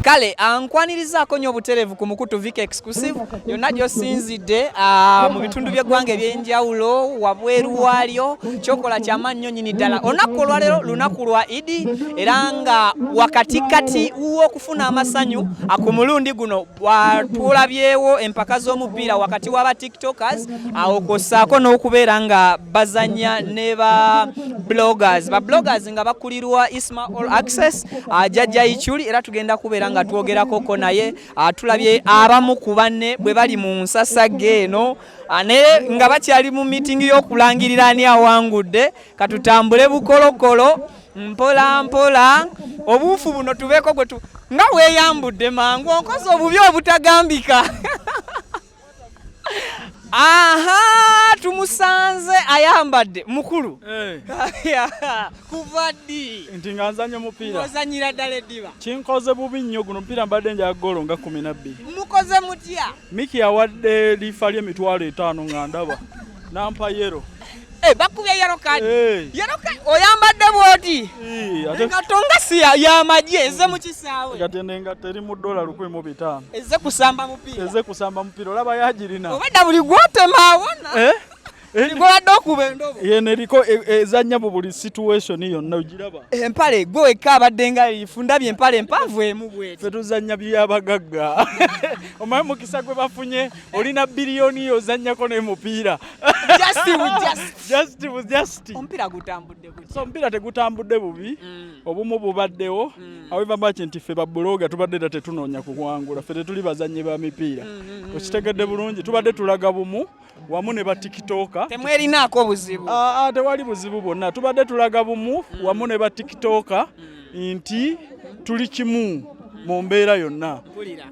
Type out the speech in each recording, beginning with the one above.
kale ah, nkwanirizaako nnyo obutereevu ku mukutu vika exclusive yonna gyosinzidde ah, mu bitundu by'eggwanga eby'enjawulo wabweru waalyo kyokola kyamaanyi nnyo nyini ddala olunaku olwaleero lunaku lwa idi era nga wakatikati w'okufuna amasanyu ah, ku mulundi guno twolabyewo empaka z'omupiira wakati waba tiktokers awo kwosaako n'okubeera nga bazanya ne ba bloggers ba bloggers nga bakulirwa isma all access ajajja ichuli era tugenda kubeera nga twogerakoko naye tulabye abamu ku banne bwe bali mu nsasage eno naye nga bakyali mu mitingi y'okulangirira ani awangudde katutambule bukolokolo mpola mpola obuufu buno tubeeko gwe tu nga weeyambudde mangu onkoze obubi obutagambika aha tumusanze ayambadde mukulu eh. kuva ddi nti nga nzanya omupiira ozanyira ddala eddiba kinkoze bubi nnyo guno omupiira mbadde nja golo nga kumi nabbiri mukoze mutya miki yawadde liifa ly'emitwalo etaano nga ndaba nampa yero Hey, eh, bakubye yellow card. Hey. Eh. Yellow card oyambadde bwoti. Eh, ate katonga si ya maji eze mu kisaawe. Kati nenga teri mu dola lukwe mu bitano. Eze kusamba mupira. Eze kusamba mupira olaba yajirina. Obadde buli gwote mawona. Eh? Ligobadde okuba endobo. Yeno eriko e, e, ezannya mu buli situation yonna ogiraba. Empale gwe wekka abadde nga lifu ndabye empale empanvu emu bweti. Ffe tuzannya by'abagagga. Omanyi mukisa gwe bafunye olina biliyoni yo ozannyako n'emupiira omupiira gutambudde so omupiira tegutambudde bubi mm. obumu bubaddewo mm. aweva maki nti ffe babuloga tubadde era tetunoonya kuwangula ffe tetuli bazannyi ba mipiira mm, okitegedde bulungi tubadde tulaga bumu wamu ne batikitoka temwerinaako buzibu ah, ah, tewali buzibu bwonna tubadde tulaga bumu wamu ne batikitoka nti tuli kimu mu mbeera yonna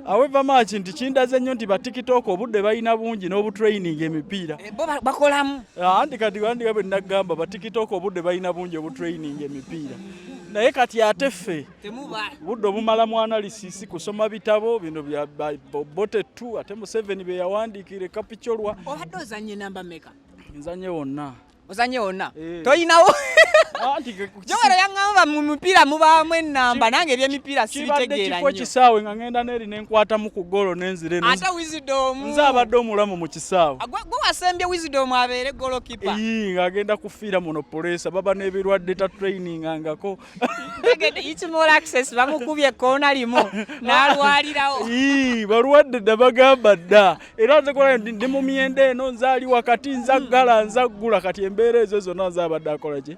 aweva maaki nti kindaze nnyo nti batikitooko obudde balina bungi n'obutraining emipiira eh, bakolamu ah, anti kati andika bwe nagamba batikitooko obudde balina bungi obutraining emipiira naye kati ate ffe budde obumala mu analysis kusoma bitabo bino bya bote tu ate museveni bye yawandiikire kapicolwa obadde ozanye namba meka nzanye wonna ozanye wonna eh. tolinawo ah, jogero yaŋamba mu mipiira mubaamu enamba nange ebyemipiira sibitegeera nyo kisaawe nga ŋenda neeri nenkwatamu ku golo nenzire ate wizidomu nze abadde omulamu mu kisaawe ah, gwe wasembye wizidomu abeere golo kipa ii ng'agenda kufiira muno puleesa baba n'ebirwadde ta training angako bamukubye koona limu nalwalirawo balwadde dda bagamba dda era nze kola ndi mu myenda eno nzaali wakati nzaggala hmm. nzaggula kati embeera ezo zonna nze abadde akola ki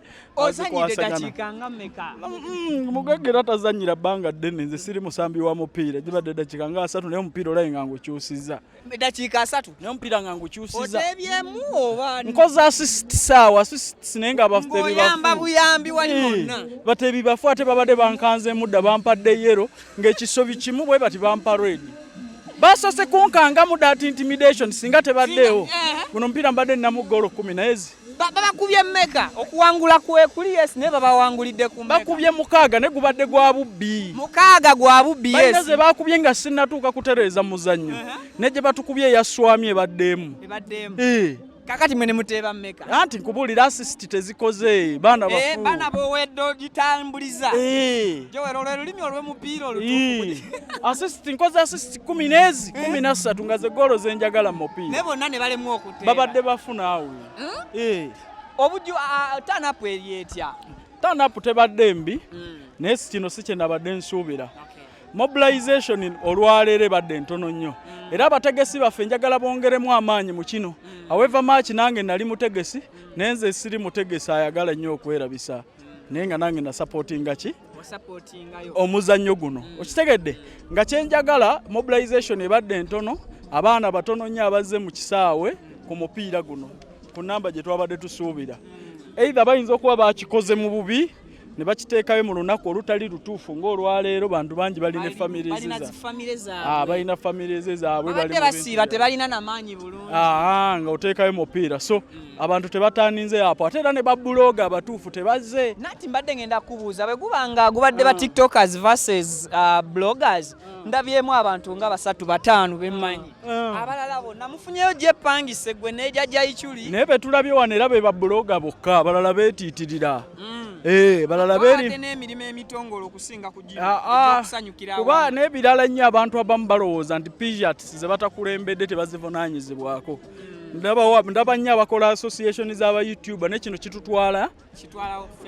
mugagga era tazanyira bbanga ddene nze siri musambi wa mupiira gibadde dakiika nga asatu naye omupiira olabe nga ngukyusiza eddakiika asatu naye omupiira nga ngukyusiza otebyemu oba nkoze assist saawa assist naye nga batebyamba buyambi wali wonna eh, batebi bafu ate babadde bankanzeemu dda bampadde yero ng'ekisobi kimu bwe bati bampa redi basose kunkangamu dat intimidation singa tebaddeewo eh. guno omupiira mbadde ninamu goolo kumi naye zi babakubye meka okuwangula kwekuli yes naye babawangulidde ku bakubye mukaaga ne gubadde gwa bubbi mukaaga gwa bubbi yes balina ze bakubye nga sinnatuuka kutereeza muzannyo uh -huh. ne gye batukubye eyaswami ebaddeemu ebaddeemu eh. kakati mwe ne muteeba meka anti nkubuulira asisiti tezikoze baana eh, bafu baana bowedde ogitambuliza eh. jowero lwe lulimi olw'omupiira olutuufu asisiti nkoze asisiti kumi n'ezi kumi na ssatu nga ze goolo ze njagala mu mupiira ne bonna ne balemwa babadde bafuna awo hmm? eh. obuju tanapu eri etya tanapu tebadde mbi hmm. naye kino si kyenabadde nsuubira mobilization olwaleero ebadde ntono nnyo hmm. era abategesi baffe njagala bongeremu amaanyi mu kino aweva maaki nange nali mutegesi naye nze siri mutegesi ayagala nnyo okwerabisa naye nga nange nasapootinga ki omuzannyo guno mm. okitegedde nga kyenjagala mobilization ebadde entono abaana batono nnyo abazze mu kisaawe ku mupiira guno ku namba gye twabadde tusuubira mm. eitha bayinza okuba bakikoze mu bubi ne bakiteekayo mu lunaku olutali lutuufu ng'olwaleero bantu bangi balina ah, balina famire ze zaabwe basiiba tebalina namaanyi bulungi ah, ah, nga oteekayo mupiira so abantu tebatandinze apo ate era ne babuloga abatuufu tebazze nati mbadde ngenda kubuuza bwe guba nga gubadde ba mm. tiktokers versus uh, bloggers mm. ndabyemu abantu nga basatu bataano bemmanyi mm. abalala bonna mufunyeyo gyepangise gwe neja jaichuli naye betulabye wano era be babuloga bokka abalala betiitirira eh, balala beri n'emirimu emitongole okusinga ah, ah. kugisanyukira kuba n'ebirala nnyo abantu abamu balowooza nti pijats ze batakulembedde tebazivunaanyizibwako ndaba nnyo abakola association z'aba youtuba ne kino kitutwala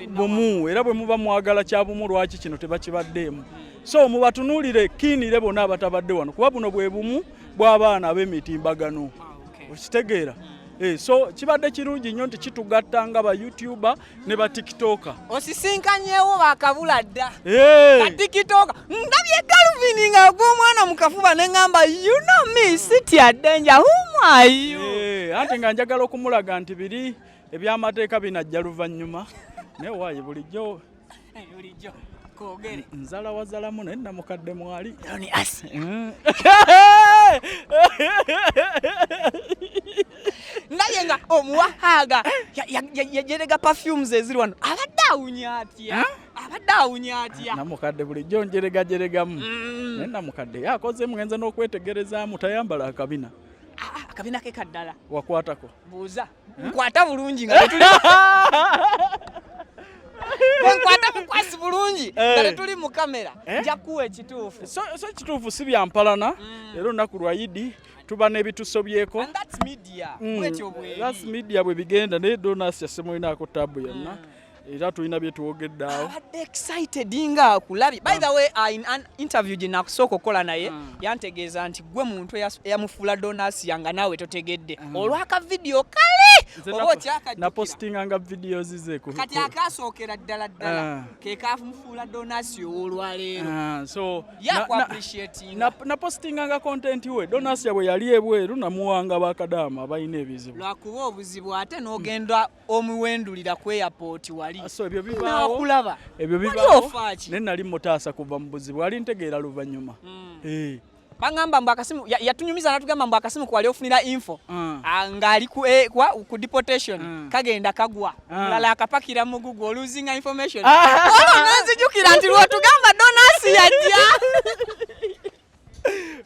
bumu era bwe muba mwagala kya bumu lwaki kino tebakibaddeemu hmm. so mubatunuulire kiinire bona abatabadde wano kuba buno bwe bumu bw'abaana ab'emitimbagano ah, okitegeera hmm. eh, so kibadde kirungi nnyo nti kitugatta nga ba youtuba ne ba tiktoka osisinkanyewo bakabula dda hey. ba tiktoka ndabye galvin nga gwomwana mukafuba neŋamba you know me city adenja humayu hey, ante nga njagala okumulaga nti biri ebyamateeka binajja luvannyuma naye waayi bulijjo bulijjo kogere nzala wazalamu naye namukadde mwali ni asi mm. naye nga omuwahaaga yajerega perfumes eziri wano abadde awunya atya abadde awunya atya namukadde bulijjo njeregajeregamu mm. naye namukadde yakoze mugenze n'okwetegerezaamu tayambala akabina ah, ah, akabina ke kaddala wakwatako buuza nkwata bulungi nga tetuli nkwata mukwasi bulungi eh. nga tetuli mu kamera eh? nja kuwa ekituufu so ekituufu si byampalana mm. era olunaku lwa idi tuba n'ebitusobyeko that's media mm. bwe bigenda naye donas yasemulinaako tabu yonna mm. era tulina bye twogedde awo abadde excited nga akulabi by the way uh, in an interview gye nakusooka okukola naye hmm. yantegeeza nti gwe muntu eyamufuula donasiya nga naawe totegedde hmm. olwaka vidiyo kale oba okyakanapostinga nga vidiyo zize kati akasookera ddala ddala ah. ke kamufuula donasiya ow'olwaleero ah, so yakuappreciatinga napostinga nga kontenti we donasiya bwe yali ebweru namuwanga bakadaama abalina ebizibu lwakuba obuzibu ate n'ogenda omuwendulira ku airport wali ah, so ebyo bibaawo nakulaba ebyo bibaawo ne nali mutaasa kuva mu buzibu ali ntegeera luvannyuma mm. eh bangamba mbu akasimu yatunyumiza ya natugamba mbu akasimu kwali ofunira info mm. Ah, ngali ku, eh, kwa, ku deportation mm. kagenda kagwa mm. Ah. lala akapakira mu Google losing information ah. oh, nanzijukira nti lwotugamba donasi yajja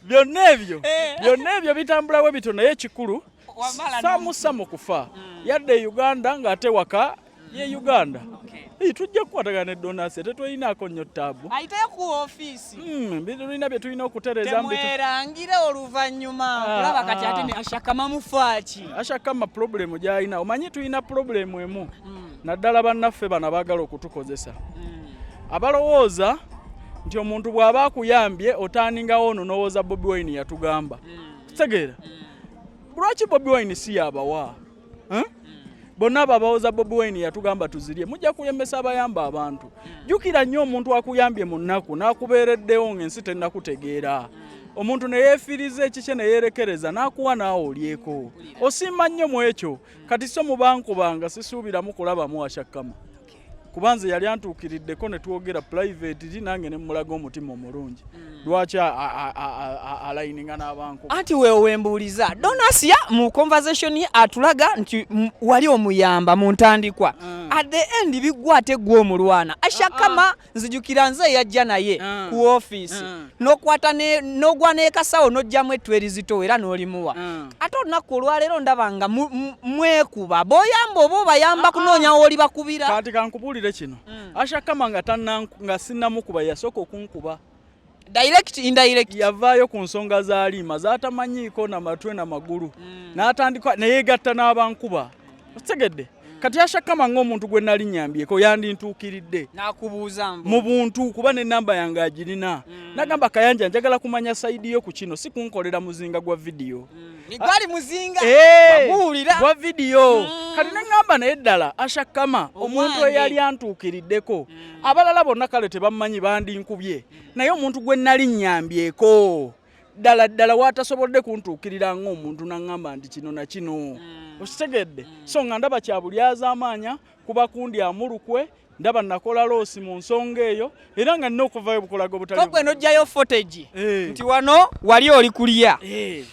byonna ebyo eh. byonna ebyo bitambulawo bityo naye ekikulu samusamu kufa hmm. yadde e uganda ng'ate waka ye uganda Hey, tujja kukwatagana ne donasi tetulinaako nnyo ttaabu ayite ku ofiisi hmm, tulina bye tulina okutereeza mwerangire oluvannyuma ah, olaba kati ah. ate ashakama mufaaki ashakama pulobulemu gy'alina omanyi tulina pulobulemu emu hmm. naddala bannaffe bano abaagala okutukozesa hmm. abalowooza nti omuntu bw'aba akuyambye otandingawo ono n'owooza bobi wine yatugamba hmm. kitegeera hmm. lwaki bobi wine si yabawa bonna abo abawoza bobi wine yatugamba tuzirye mujja kulembesa abayamba abantu jjukira nnyo omuntu akuyambye mu nnaku n'akubeereddewo ng'ensi tennakutegeera omuntu ne yeefiiriza ekikye ne yeerekereza n'akuwa naawe olyeko osiima nnyo mu ekyo kati so mubankubanga sisuubiramu kulabamu ashakkama kuba nze yali antuukiriddeko ne twogera purayiveti ri nange ne mmulaga omutima omulungi hmm. lwaki alayininga n'abanku anti wewe wembuuliza donasiya mu conversation ye atulaga nti wali omuyamba mu ntandikwa hmm. at the end biggwa ate gwe omulwana ashakama ah, ah. nzijukira nze yajja naye ah. ku ofiisi ah. nokwata nogwa nekasawo nojjamu ettu erizitowa era nolimuwa ah. ate olunaku olwaleero ndaba nga mwekuba boyamba oba obayamba kunoonya woli bakubira kati kankubuulire kino mm. ashakama nga sinnamukuba yasooka okunkuba direct indirect yavaayo ku nsonga za liima zatamanyiiko na matwe na magulu mm. n'atandika neyegatta n'abankuba okitegedde mm. kati ashakama ng'omuntu gwe nali nyambyeko yandintuukiridde nakubuuza mu buntu kuba n'ennamba yange agirina mm. nagamba kayanja njagala kumanya saidi yo ku kino si kunkolera muzinga gwa vidiyo mm. nigwali muzinga baguwulira gwa vidiyo mm. kati nengamba naye ddala ashakama omuntu eyali antuukiriddeko mm. abalala bonna kale tebammanyi bandinkubye naye omuntu gwe nali nnyambyeko ddala ddala waatasobodde kuntuukirira ng'omuntu naŋŋamba nti kino na kino hmm. okitegedde hmm. so nga ndaba kya bulyazaamaanya kuba kundi amulukwe ndaba nakola loosi mu nsonga eyo era nga nina okuvayo bukulaga obutagwe nojjayo footage eh. nti wano wali oli kulya eh.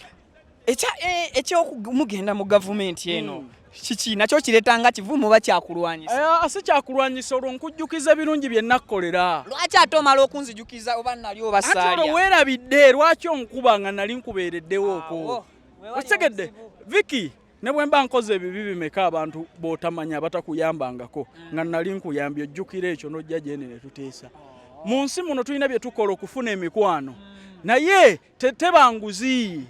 ekya eh, ekyomugenda mu gavumenti eno mm. kiki nakyo kireeta nga kivumu oba kyakulwanyisa eh, ah, si kyakulwanyisa olwo nkujjukiza ebirungi bye nakkolera lwaki ate omala okunzijukiza oba nali obasaalya ati olwo weerabidde lwaki onkuba nga nali nkubeereddewooko okitegedde viki ne bwe mba nkoze ebibi bimeka abantu b'otamanya abatakuyambangako mm. nga nali nkuyambye ojjukira ekyo n'ojja gyene ne tuteesa oh. mu nsi muno tulina bye tukola okufuna emikwano mm. naye teteba nguzi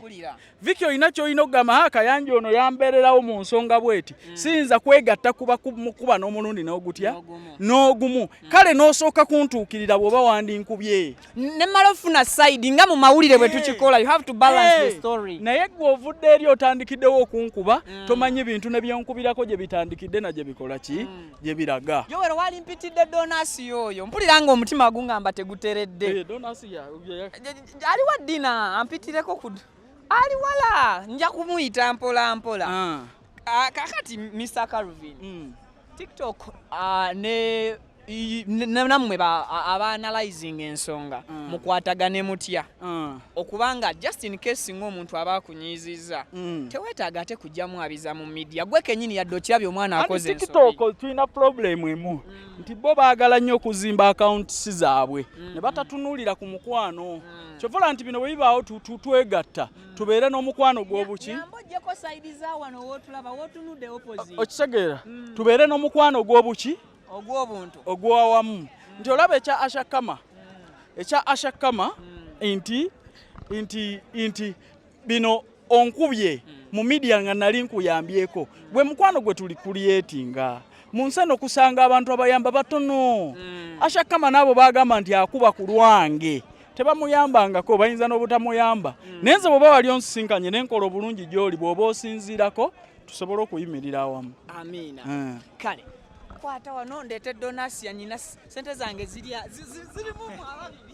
viki olina kyolina okugamba ha kayanja ono yambeererawo mu nsonga bweti mm. siyinza kwegatta kuba mukuba n'omulundi n'ogutya n'ogumu mm. kale n'osooka kuntuukirira bw'oba wandinkubye ne mala ofuna sayidi nga mu mawulire bwe tukikola you have to balance hey. the story naye gwe ovudde eri otandikiddewo okunkuba mm. tomanyi bintu ne byonkubirako gye bitandikidde na gye bikola ki mm. gye biraga yowero wali mpitidde donasi yooyo mpulira nga omutima gungamba teguteredde hey, eh, donasi ya, ya, ya. ali wa dina ampitireko ku ali wala nja kumuyita mpola mpola ah. ah, kakati mr carvin mm. tiktok ah, ne namwe abaanalyzing ensonga mm. mukwatagane mutya mm. okubanga just in case ngaomuntu aba akunyiizizza mm. teweetaaga ate kujjamu abiza mu midia gwe kenyini yadde okirabye omwana akoze tiktok tulina problem emu nti bo baagala nnyo okuzimba akawuntisi zaabwe mm. ne batatunuulira ku mukwano mm. kyovola nti bino bwe bibaawo twegatta mm. tubeere n'omukwano gw'obuki okitegeera tubeere n'omukwano gw'obuki ogw'awamu nti olaba ekya ashakama ekya ashakama nti nti nti bino onkubye mu midia nga nali nkuyambyeko gwe mukwano gwe tuli kulyetinga mu nsi eno kusanga abantu abayamba batono mm. ashakama naabo bagamba nti akuba ku lwange tebamuyambangako bayinza n'obutamuyamba mm. naye nze bwoba wali onsisinkanye nenkola obulungi gyoli bwoba osinziirako tusobole okuyimirira awamu amiina eh. kale kwata wano ndeete donasi yanyina sente zange zirimu ababiri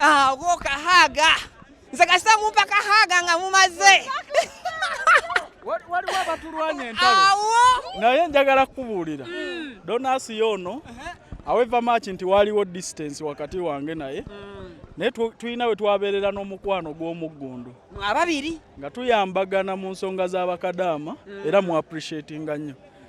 Ah, go kahaga nze kasita mumpa kahaga nga mumaze waliwo abatulwanya entalo naye njagala kukubuulira hmm. donasi yoono uh-huh. aweva maaki nti waliwo distance wakati wange naye hmm. naye tulina we twabeerera n'omukwano gw'omuggundu ababiri nga tuyambagana mu nsonga z'abakadaama hmm. era mu appreciatinga nnyo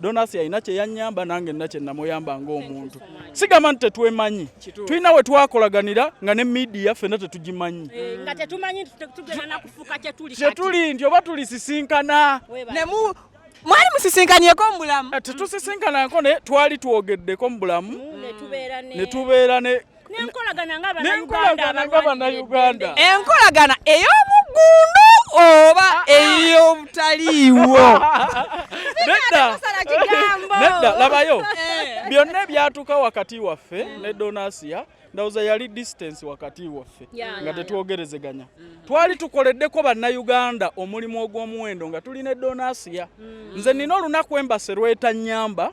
Donasi alina kye yanyamba nange nina kye namuyamba ng'omuntu. Sigamba nti tetwemanyi, tulina we twakolaganira nga ne midiya ffenna tetugimanyi eh, nga tetumanyi tugenda na kufuuka kye tuli kye tuli nti oba tulisisinkana mwali musisinkanyeko mu bulamu eh, tetusisinkanako naye twali twogeddeko mu bulamu mm, ne tubeera ne n'enkolagana nga bannayuganda enkolagana ey'omuggundu oba ah, ah. ey'obutaliiwo nedda labayo eh. byonna ebyatuuka wakati waffe mm. ne donasiya ndawooza yali distance wakati waffe nga tetwogerezeganya mm. twali tukoleddeko bannayuganda omulimu ogw'omuwendo nga tuli ne donasiya mm. nze nina olunaku embase lwetanyamba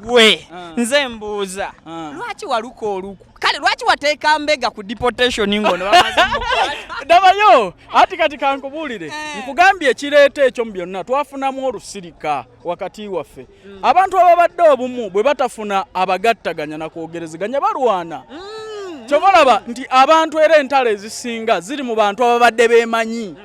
gwe ah. nze mbuuza ah. lwaki waluka oluku kale lwaki wateeka mbega ku deportation ngono dabayo ati kati kankubuulire eh. nkugambye ekireeta ekyo mu byonna twafunamu olusirika wakati waffe mm. abantu ababadde obumu bwe batafuna abagattaganya na kwogerezeganya balwana mm, mm. kyobalaba nti abantu era entalo ezisinga ziri mu bantu ababadde beemanyi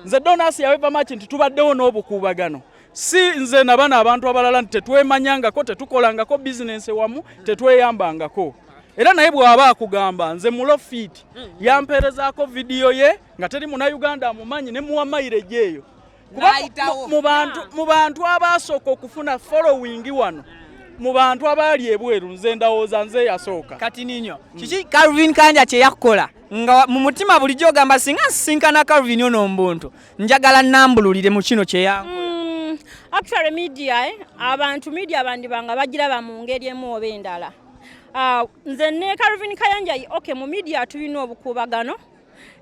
nze donasi yawevamaki nti tubaddewo n'obukuubagano si nze na bano abantu abalala nti tetwemanyangako tetukolangako bizinensi wamu tetweyambangako era naye bw'aba akugamba nze mulofiiti yampeerezaako vidiyo ye nga teri muna uganda amumanyi ne muwa mayireje eyo kuba mu bantu abaasooka okufuna followingi wano mu bantu abaali ebweru nze ndawooza nze yasooka kati ninyo kiki calvin kanja kye yakukola nga mu mutima bulijjo ogamba singa nsisinkana calvin ono mbuntu njagala nambululire mu kino kyeyangu mm, actually media eh? abantu media bandibanga bagiraba mu ngeri emu oba endala uh, nze ne Calvin Kayanja okay mu media tulina obukuubagano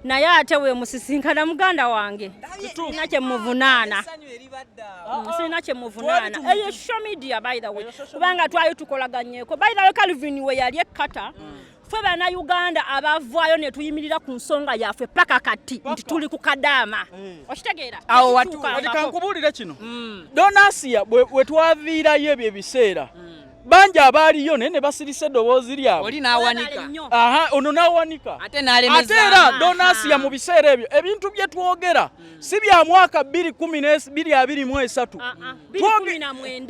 naye ate wemusisinkana muganda wange sirina kyemuvunaana mm, sirina kyemuvunaana eyo show media by the way kubanga twali tukolaganyeko by the way Calvin we yali ekkata mm. ffe bannayuganda abavaayo ne tuyimirira ku nsonga yaffe paka kati nti tuli ku kadaama eh. okitegeera awo watukankubuulire kino mm. donasiya we twaviirayo ebyo ebiseera mm. bangi abaaliyo naye ne basirisa eddoboozi lyabwe aha ono n'awanika ate era donasiya mu biseera ebyo ebintu bye twogera mm. si bya mwaka bbiri kumi n'ebiri abiri mu esatu ah, ah.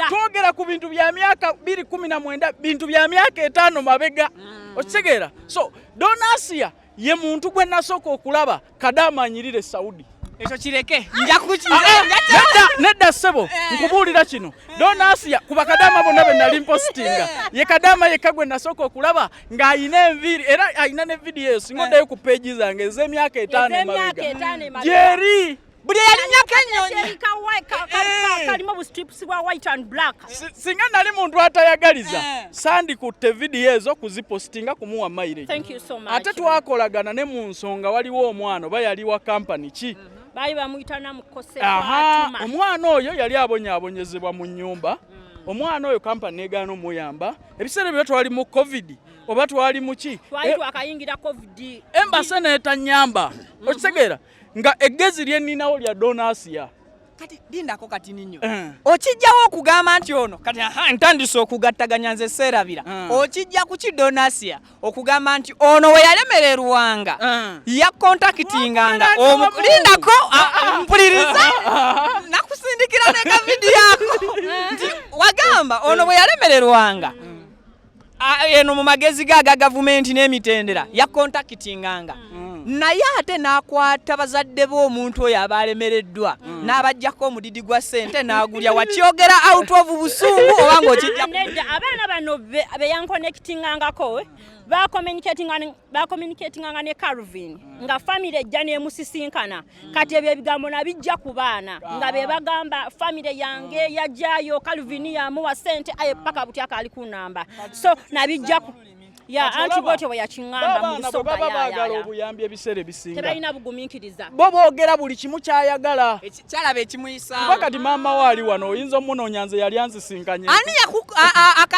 twogera ku bintu bya myaka biri kumi na mwenda bintu bya myaka etaano mabega mm. okitegeera so donasia ye muntu gwe nasooka okulaba kadaama anyirire saudi ekyo kireke nedda ssebo eh. nkubuulira kino donasiya ku bakadaama bonna be nali mpositinga eh. ye kadaama yekka gwe nasooka okulaba ng'alina enviiri era alina ne vidiyo eyo singa oddayo ku peegi zange ez'emyaka etaano emabega gyeri buli eyalinyako enyonyikalimu obustripusi bwa white and black singa nali muntu atayagaliza eh. sandikutte vidiyo ezo kuzipositinga kumuwa maire ate twakolagana ne mu nsonga waliwo omwana oba yali wa kampani ki mhm. baali bamuyita namukose omwana oyo yali abonyabonyezebwa mu nyumba mm. omwana oyo kampani negaana omuyamba ebiseera byo twali mu covid oba twali muki twali eh, twakayingira covid embase netanyamba mm-hmm. okitegeera nga eggezi lye nninawo lya donasiya kati lindako kati ninyo uh. Eh. okijjawo okugamba nti ono kati aha ntandise okugattaganya nze seerabira uh. Eh. okijja ku kidonasiya okugamba nti ono we yalemererwanga uh. Eh. yakontakitinganga lindako ah, ah. mpuliriza nakusindikira nekavidiyo ako nti wagamba ono bwe yalemererwanga mm. eno mu magezi ge aga gavumenti n'emitendera yakontakitinganga mm. naye ate n'akwata bazadde be omuntu oyo aba alemereddwa mm. n'abajjako omudidi gwa ssente n'agulya wakyogera out of busungu oba ng'okijjaeda abaana bano beyankonekitingangako bakomunikatinganga ne calvin mm. nga famiry ejja n'emusisinkana kati ebyo ebigambo nabijja ku baana nga be bagamba famire yange mm. yajjayo calvin yamuwa sente aye paka butya kaali ku namba so nabijja ku ya anti bwotyo bwe yakiŋŋamba mu nsonga baagala obuyambi ebiseera ebisinga tebalina bugumiikiriza bo boogera buli kimu kyayagala kyalaba ekimuyisaawo kuba kati maama we ali wano oyinza omunoonya nze yali anzisinkanye ani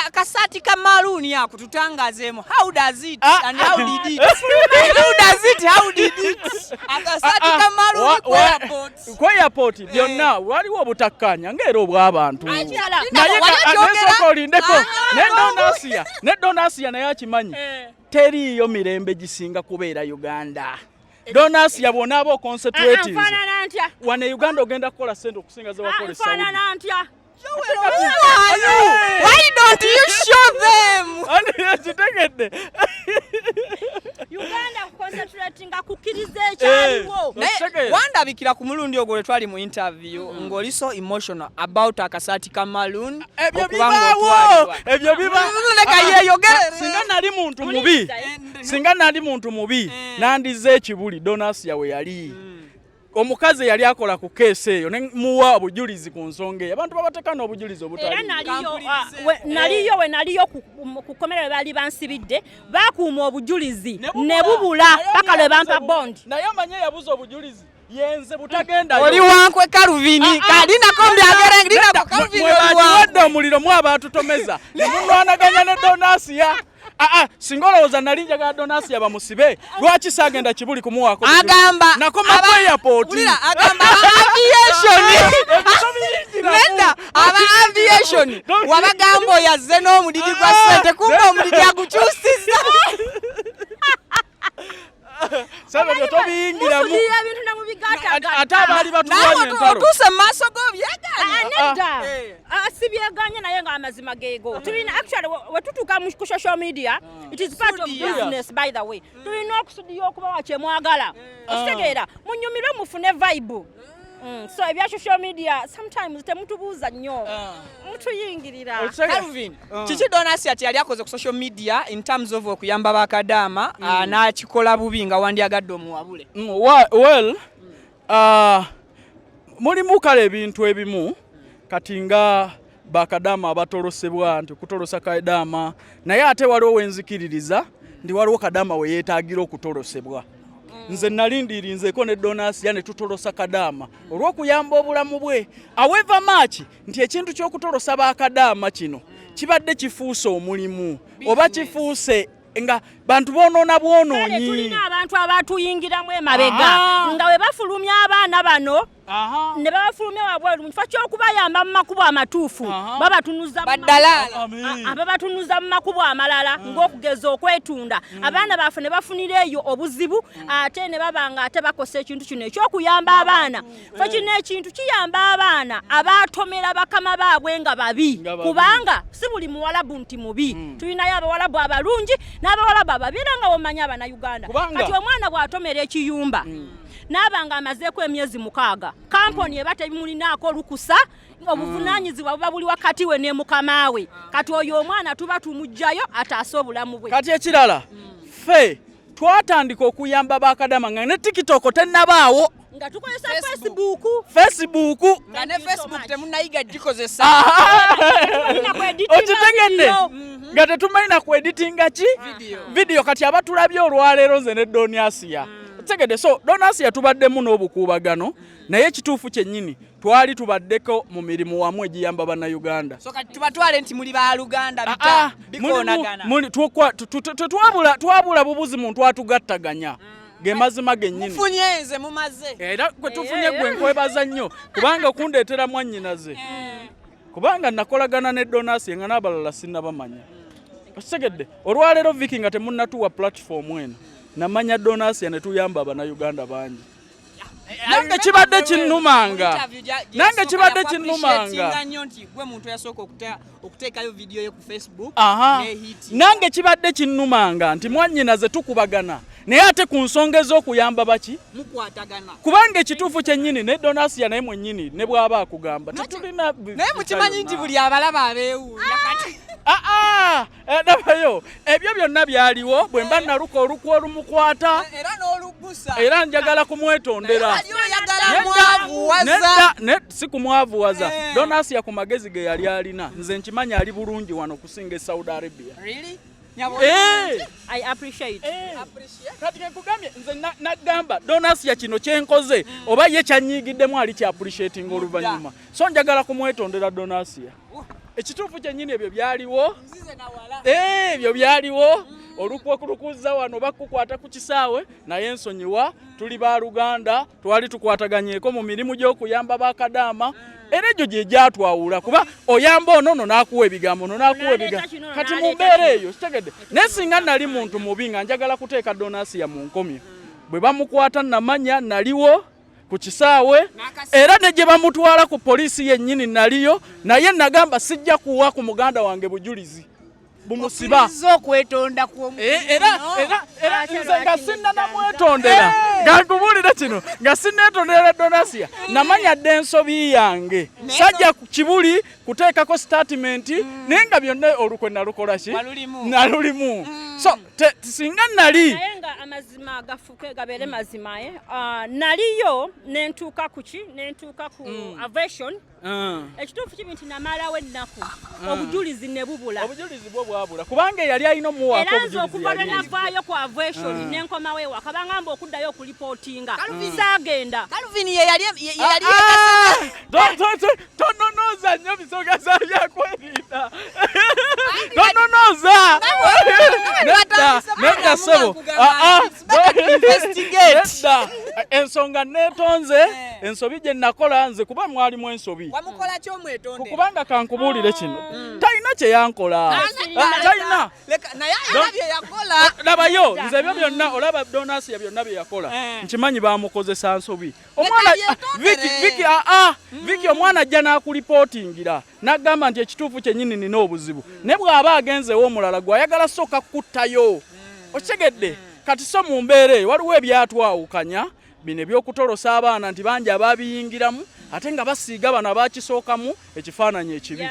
akasaati ka maaluuni akutu tutangazeemu how does it ah. and how did it how does it how did it akasaati ah, ah. kamaluli ku airport ku airport eh. byonna waliwo obutakkaanya ng'era obw'abantu naye nesooka olindeko ne donasiya ne donasiya naye akimanyi eh. teriiyo mirembe gisinga kubeera uganda donasi yabwona aba oconcentratinfanana ntya wano e uganda ogenda kukola sente okusinga zewakola esaudi Why don't you show them? Kitegedde. Uganda concentrating akukiriza ekyaliwo. Eh, Wandabikira ku mulundi ogwo lwe twali mu interview mm-hmm. ng'oli so emotional about akasaati ka Malun. Ebyo bibaawo. Ebyo bibaawo. Ah, singa nali muntu mubi. Singa nali muntu mubi. Eh. Nandize ekibuli donasi yawe yali. Mm. omukazi eyali akola ku keesi eyo nemuwa obujulizi ku nsonga eyo abantu babateka n'obujulizi obutera naliyo ah, we naliyo ku komera webaali bansibidde bakuuma obujulizi ne bubula paka lwe bampa bond naye amanye yabuza obujulizi yenze butagenda oli wankwe kaluvini ah, ah. kali nako mbyagera ndina kaluvini oli wankwe omuliro mwa batutomeza ne munwanaganya ne donasiya Aa, ah, ah, singa olowooza nali njagala donasi yabamusibe lwaki sagenda kibuli kumuwaako agamba nakomakoyapotulira agamba aviation nenda aba aviation wabagamba oyazze n'omudidi gwa sente kumba omudidi agukyusiza ate abaali batulwanyeotuuse mu maaso go byegaanyesibyeganye naye nga amazima geego tulina actually wetutuuka ku social media it is part of business by the way tulina okusudiya okubawa kyemwagala okitegeera munyumire mufune vibe Mm, so ebya social media sometimes temutubuuza nnyo ah. mutuyingirira Calvin ah. kiki Donasi ati yali akoze ku social media in terms of okuyamba bakadaama mm. ah, n'akikola bubi nga wandyagadde omuwabule mm, well mulimu kale ebintu ebimu kati nga bakadaama abatolosebwa nti okutolosa kadaama naye ate waliwo wenzikiririza ndi waliwo kadaama weyetagira okutolosebwa nze nalindirinzeko ne donasiya ne tutolosa kadaama olw'okuyamba obulamu bwe aweva maaki nti ekintu ky'okutolosa bakadaama kino kibadde kifuuse omulimu oba kifuuse nga bantu bonoona bwonoonyi tulina abantu abatuyingiramu emabega nga we bafulumya abaana bano ne babafulumya wabweru mu kifo ky'okubayamba mu makubo amatuufu babatunuza ababatunuza mu makubo amalala mm. ng'okugeza okwetunda mm. abaana baffe ne bafunira eyo obuzibu mm. ate ne baba nga ate bakosa ekintu kino eky'okuyamba abaana fe eh. kino ekintu kiyamba abaana abaatomera bakama baabwe nga babi kubanga si buli muwalabu nti mubi tulinayo abawalabu abalungi n'abawalabu ababi era nga womanya abana uganda kati omwana bw'atomera ekiyumba naaba nga amazeeko emyezi mukaaga kampuni eba tebimulinaako lukusa obuvunanyizibwa buba buli wakati we ne mukama we kati oyo omwana tuba tumugjayo ataase obulamu bwe kati ekirala ffe twatandika okuyamba bakadama nga ne tikitoko tenabaawo nga tukozesa facebook facebook nga ne facebook temunayiga gikozesa okitegedde mm-hmm. nga tetumanyi na ku editinga ki vidiyo kati abatulabye olwaleero nze ne doniasiya mm. tegede so donasi yatubaddemu n'obukuubagano naye ekituufu kyennyini twali tubaddeko mu mirimu wamu egiyamba bannayuganda tubatwale nti muli baluganda ah, ah, bikonaganatwabula twabula bubuzi muntu atugattaganya mm. gemazima gennyini era kwetufunye gwe eh. nkwebaza nnyo kubanga okundeetera mwannyinaze eh. kubanga nakolagana ne donasi nga n'abalala sinnabamanya okitegedde olwaleero viki nga temunnatuwa pulatifomu eno namanya donasi ne tuyamba abanauganda bangi nange kibadde kinnumanga nange kibadde kinnumanga nange kibadde kinnumanga nti mwanyina ze tukubagana naye ate ku nsonga ez'okuyamba baki mukwatagana kubanga ekituufu kyennyini ne donasiya naye mwennyini ne bw'aba akugamba tetulina naye mukimanyi nti buli abalaba abeewuunya ah! kati aa ah, ah, eh, nabayo ebyo byonna byaliwo bwe mba naluka olukwa olumukwata eh, era njagala kumwetondera si kumwavuwaza eh. donasiya ku magezi ge yali alina nze nkimanya ali bulungi wano okusinga e saudi arabia kati kenkugambye nze nagamba donasiya kino kyenkoze mm. oba ye kyanyiigiddemu ali kyapreciating oluvannyuma so njagala kumwetondera donasiya ekituufu kyennyini ebyo byaliwo eh, ebyo byaliwo mm. olukwa kulukuza wano bakukwata ku kisaawe naye nsonyiwa tuli ba luganda twali tukwataganyeeko mu mirimu gy'okuyamba bakadaama era egyo gye gyatwawula kuba oyamba ono no n'akuwa ebigambo no n'akuwa ebigambo kati mu mbeera eyo kitegedde naye singa nali muntu mubi nga njagala kuteeka donasiya mu nkomyo bwe bamukwata namanya naliwo ku kisaawe era ne gye bamutwala ku poliisi yennyini naliyo naye nagamba sijja kuwa ku muganda wange bujulizi bumusiba okwetonda eh, era nze nga sinnanamwetondera eh. gankubuulira kino nga sinneetondera donasia eh. namanya dda ensobi yange sajja kibuli kuteekako sitatimenti hmm. naye nga byonna olukwe nalukola ki nalulimu hmm. so singa nali amazima gafuke gabeere mazima ah, naliyo nentuuka kuki nentuuka ku hmm. avation Ah. ekituufu kibi nti namalawo ennaku ah. obujulizi ne bubula obujulizi bwo bwabula kubanga eyali alina omuwaako era nze okuva lwe navaayo ku avation ah. ne nkomawo ewaka bangamba okuddayo okulipootinga zaagenda kalvin yeyali tononooza nnyo bisoga za byakwerinda tononooza nedda nedda ssebo nedda ensonga netonze eh. ensobi gye nakola nze kuba mwalimu ensobi kubanga kankubuulire kino ah. mm. talina kye yankola ah, ah, talina labayo nze ebyo byonna olaba donasiya byonna bye yakola eh. nkimanyi bamukozesa nsobi omwana viki hmm. omwana ajja n'akulipootingira n'agamba nti ekituufu kyennyini nina obuzibu naye bw'aba agenzeewo omulala gw'ayagala sooka kukuttayo okitegedde kati so mu mbeera eyo waliwo ebyatwawukanya bino eby'okutolosa abaana nti bangi abaabiyingiramu ate nga basiiga bano abakisookamu ekifaananyi ekibi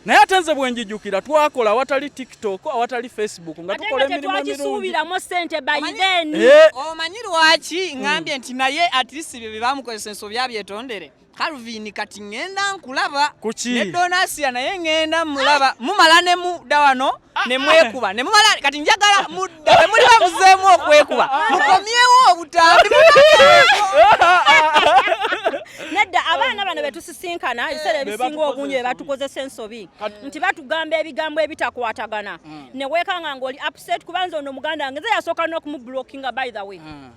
naye ate nze bwenjijukira twakola awatali tiktok awatali facebook nga tukola emirimu emirungiisuubiramu sente bayideni eh. omanyi lwaki ngambye nti naye atlist bye byebamukozesa ensobi abyetondere Calvin kati ngenda nkulaba ne Donasia naye ngenda mulaba mumala ne mudda wano ne mwekuba ne mumala kati njagala mudda ne muli bamuzeemu okwekuba mukomyewo obutambi nedda abaana bano betusisinkana eh, ebiseera ebisinga obungi bebatukozesa ensobi nti batugamba ebigambo ebitakwatagana mm. newekanga ngaoli upset kubanza ono muganda ngeze yasooka n'okumublokinga by the way mm.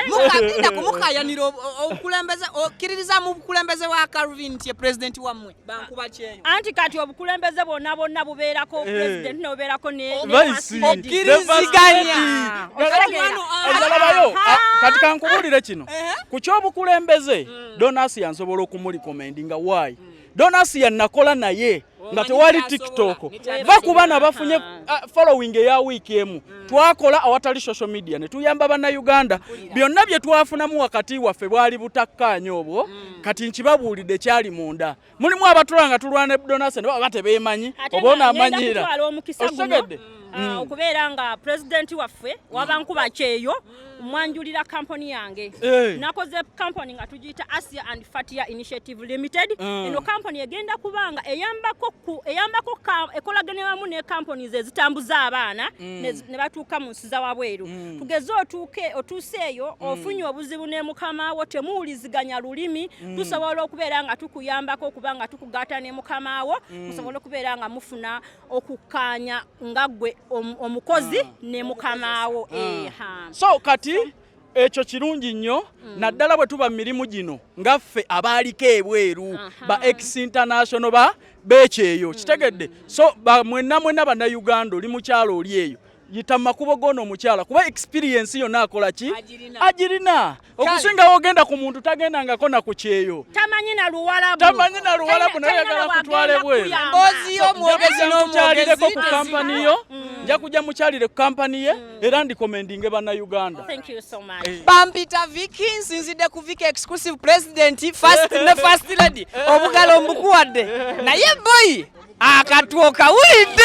mugenda kumukayanira obukulembeze okkiririza mu bukulembeze wa calvin nti ye pulezidenti wammwe bankuba kyeyo anti kati obukulembeze bwonna bwonna bubeerako eh. pulezidenti nobubeerako neokkiriziganyakati kankubuulire kino eh? ku kyobukulembeze mm. Donas yansobola okumulikomenti nga why hmm. Donas yanakola naye oh, nga tewali TikTok va ku baana bafunye uh, following eya wiiki emu hmm. twakola awatali social media ne tuyamba bannayuganda byonna bye twafunamu wakati waffe bwali butakkaanya obwo hmm. kati nkibabuulidde kyali munda mulimu abatula nga tulwana ebudonase nebaba batebemanyi oba onamanyira okitegedde ah, mm. okubeera nga pulezidenti waffe wabankuba kyeyo mwanjulira kampuni yange eh. nakoze kampuni nga tugiyita asia and fatia initiative limited mm. eno kampuni egenda kubanga eyambako ekolagene wamu ne kampuni ze zitambuza abaana mm. ne batuuka mu nsi za wabweru tugeze otuuke otuuse eyo ofunye obuzibu ne mukama wo temuwuliziganya lulimi mm. tusobola okubeera nga tukuyambako okuba nga tukugaata ne mukama wo mm. musobole okubeera nga mufuna okukkaanya nga ggwe omukozi mm. ne mukama wo mm. so kati so, ekyo kirungi nnyo mm. naddala bwe tuba mu mirimu gino nga ffe abaaliko ebweru ba ex international ba beekyeyo mm. kitegedde so mwenna mwenna bannayuganda oli mukyalo oli eyo yita mu makubo g'ono omukyala kuba experience yonna akola ki agirina okusingawo ogenda ku muntu tagendangako na ku kyeyo tamanyi na luwalabu nayagala kutwala ebwerukyalireko ku kampani yo mm. nja kujja mukyalire ku kampani ye mm. era ndikomendinge bannayuganda eh. bampita viki nsinzidde ku viki exclusive president ne first lady eh. obugalo mbukuwadde eh. naye boyi akatwo kawulidde